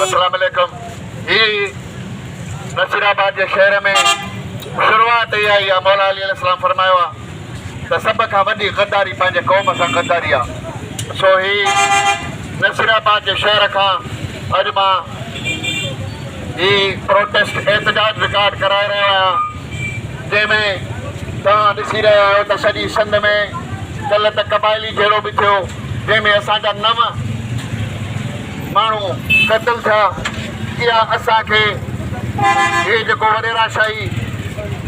اسلام عليڪم هي نصير آباد جي شهر ۾ شروعات اها ئي آهي مولا علي عليه السلام فرمايو آهي ته سڀ کان وڏي غداري پنهنجي قوم سان غداري آهي سو هي نصير آباد جي شهر کان اڄ مان هي پروٽيسٽ احتجاج رڪارڊ ڪرائي رهيو آهيان جنهن ۾ توهان ڏسي رهيا آهيو ته سڄي سنڌ ۾ ڪلهه ته قبائلي جهيڙو به ٿيو جنهن ۾ اسان جا نو ماڻهو قتل ٿيا اها اسان کي هي جيڪو وڏيرا شاهي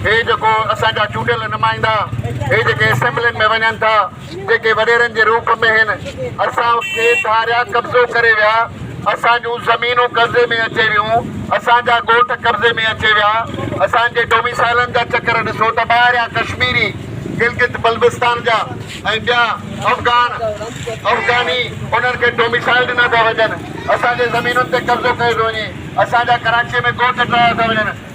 هي جيڪو اسان جا چونڊيل نمائندا هي جيڪي اسيمبلين ۾ وڃن ٿا جيڪي وڏيرن جي روپ ۾ هن اسان کي ڌاريا قبضو ڪري ويا، اسان جون زمينون قبضي ۾ اچي ويون، اسان جا ڳوٺ قبضي ۾ اچي ويا، اسان جي ڊوميسائلن جا چڪر ڏسو ته ٻاهريان ڪشميري، گلگت بلبستان جا ۽ ٻيا افغان، افغاني انهن کي ڊوميسائل ڏنا ٿا وڃن، اسان جي زمينن تي قبضو ڪيو ٿو وڃي، اسان جا ڪراچيء ۾ ڳوٺ ٽاهيا ٿا وڃن.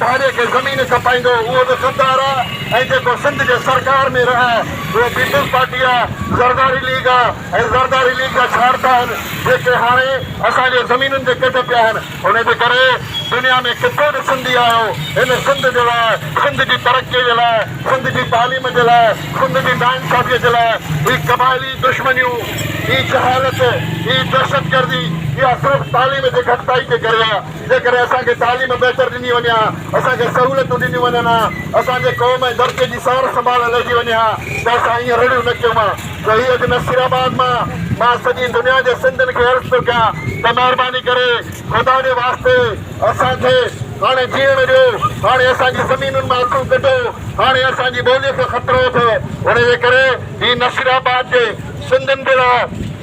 ڌاري کي زمين کپائيندو اهو به غدار آ ۽ جيڪو سنڌ جي سرڪار ۾ رهي اهو پيپلز پارٽي آ زرداري ليگ آ ۽ زرداري ليگ جا شارت آهن جيڪي هاڻي اسان جي زمينن جي ڪڍ پيا آهن ان جي ڪري دنيا ۾ ڪٿي به سنڌي آيو هن سنڌ جي لاء سنڌ جي ترقي جي لاء سنڌ جي تعليم جي لاء سنڌ جي ناانصافي جي لاء هي قبائلي دشمنيون هي جهالت هي دهشتگردي اها صرف تعليم جي گهٽتائي جي ڪري آ. جيڪڏهن اسان کي تعليم بهتر ڏني وڃي ها، اسان کي سهولتون ڏنيون وڃن ها، اسان جي قوم ۽ ڌرتيء جي سار سنڀال لهجي وڃي ها ته اسان ايئن رڙيون نه ڪيون ها جو هي اڄ نصير آباد مان مان سڄي دنيا جي سنڌين کي عرض ٿو ڪيان ته مهرباني ڪري خدا جي واسطي اسان کي هاڻي جيئڻ ڏيو هاڻي اسان جي زمينن مان اکيون ڪڍو هاڻي اسان جي ٻوليء کي خطرو اٿئي ان جي ڪري هي نصير آباد جي سنڌين جي لاء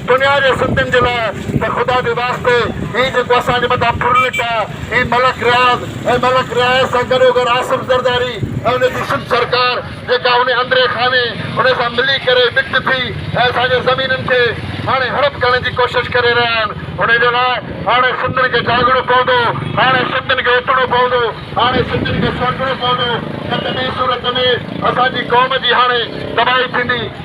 دنيا جي سنڌين جي لاء ته خدا جي واسطي هي جيڪو اسان جي مٿان ڦرلٽ آ هي ملڪ رياض ۽ ملڪ رياض سان گڏوگڏ آصف زرداري ۽ ان جي سنڌ سرڪار جيڪا انهي اندري خاني انهي سان ملي ڪري ٻٽ ٿي ۽ اسان جي زمينن کي هاڻي هڙپ ڪرڻ جي ڪوشش ڪري رهيا آهن انهي جي لاء هاڻي سنڌين کي جاڳڻو پوندو هاڻي سنڌين کي اٿڻو پوندو هاڻي سنڌين کي سوچڻو پوندو نه ته ٻي صورت ۾ اسان جي قوم جي هاڻي تباهي ٿيندي.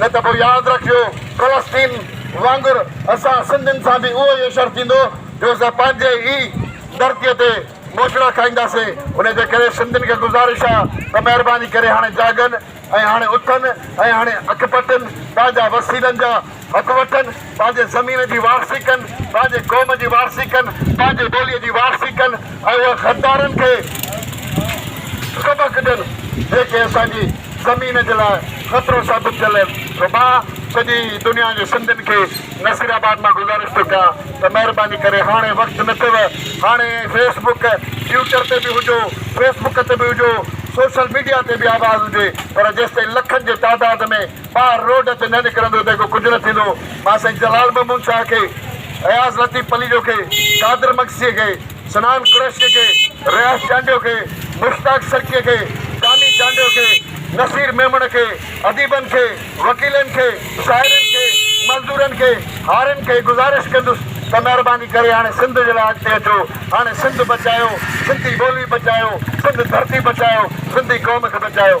نه ته پوء ياد رکيو فلسطين وانگر اسان سنڌين سان به اهو ئي حشر ٿيندو جو اسان پنهنجي ئي ڌرتيء تي موچڙا کائينداسين، ان جي ڪري سنڌين کي گذارش آ ته مهرباني ڪري هاڻي جاڳن ۽ هاڻي اٿن ۽ هاڻي اک پٽن، پنهنجا وسيلن جا حق وٺن پنهنجي زمين جي وارثي ڪن، پنهنجي قوم جي وارثي ڪن، پنهنجي ٻوليء جي وارثي ڪن ۽ انهن غدارن کي سبق ڏين جيڪي اسان جي زمين جي لاء خطرو ثابت ٿيل آهن. سو مان سڄي دنيا جي سنڌين کي نصير آباد مان گذارش ٿو ڪيان ته مهرباني ڪري هاڻي وقت نه اٿيو هاڻي فيس بڪ ٽوئيٽر تي به هجو فيس بڪ تي به هجو سوشل ميڊيا تي به آواز هجي پر جيستائين لکن جي تعداد ۾ ٻاهر روڊ تي نه نڪرندو ته اڳو ڪجهه نه ٿيندو. مان سائين جلال محمود شاهه کي، اياز لطيف پليجو کي، قادر مگسيء کي، سنان قريشيء کي، رياض چانڊيو کي، مشتاق سرڪيء کي، ڪاني چانڊيو کي، نصير ميمڻ کي، اديبن کي، وڪيلن کي، شاعرن کي، مزدورن کي، هارين کي گذارش ڪندس ته مهرباني ڪري هاڻي سنڌ جي لاء اڳتي اچو. هاڻي سنڌ بچايو، سنڌي ٻولي بچايو، سنڌ ڌرتي بچايو، سنڌي قوم کي بچايو.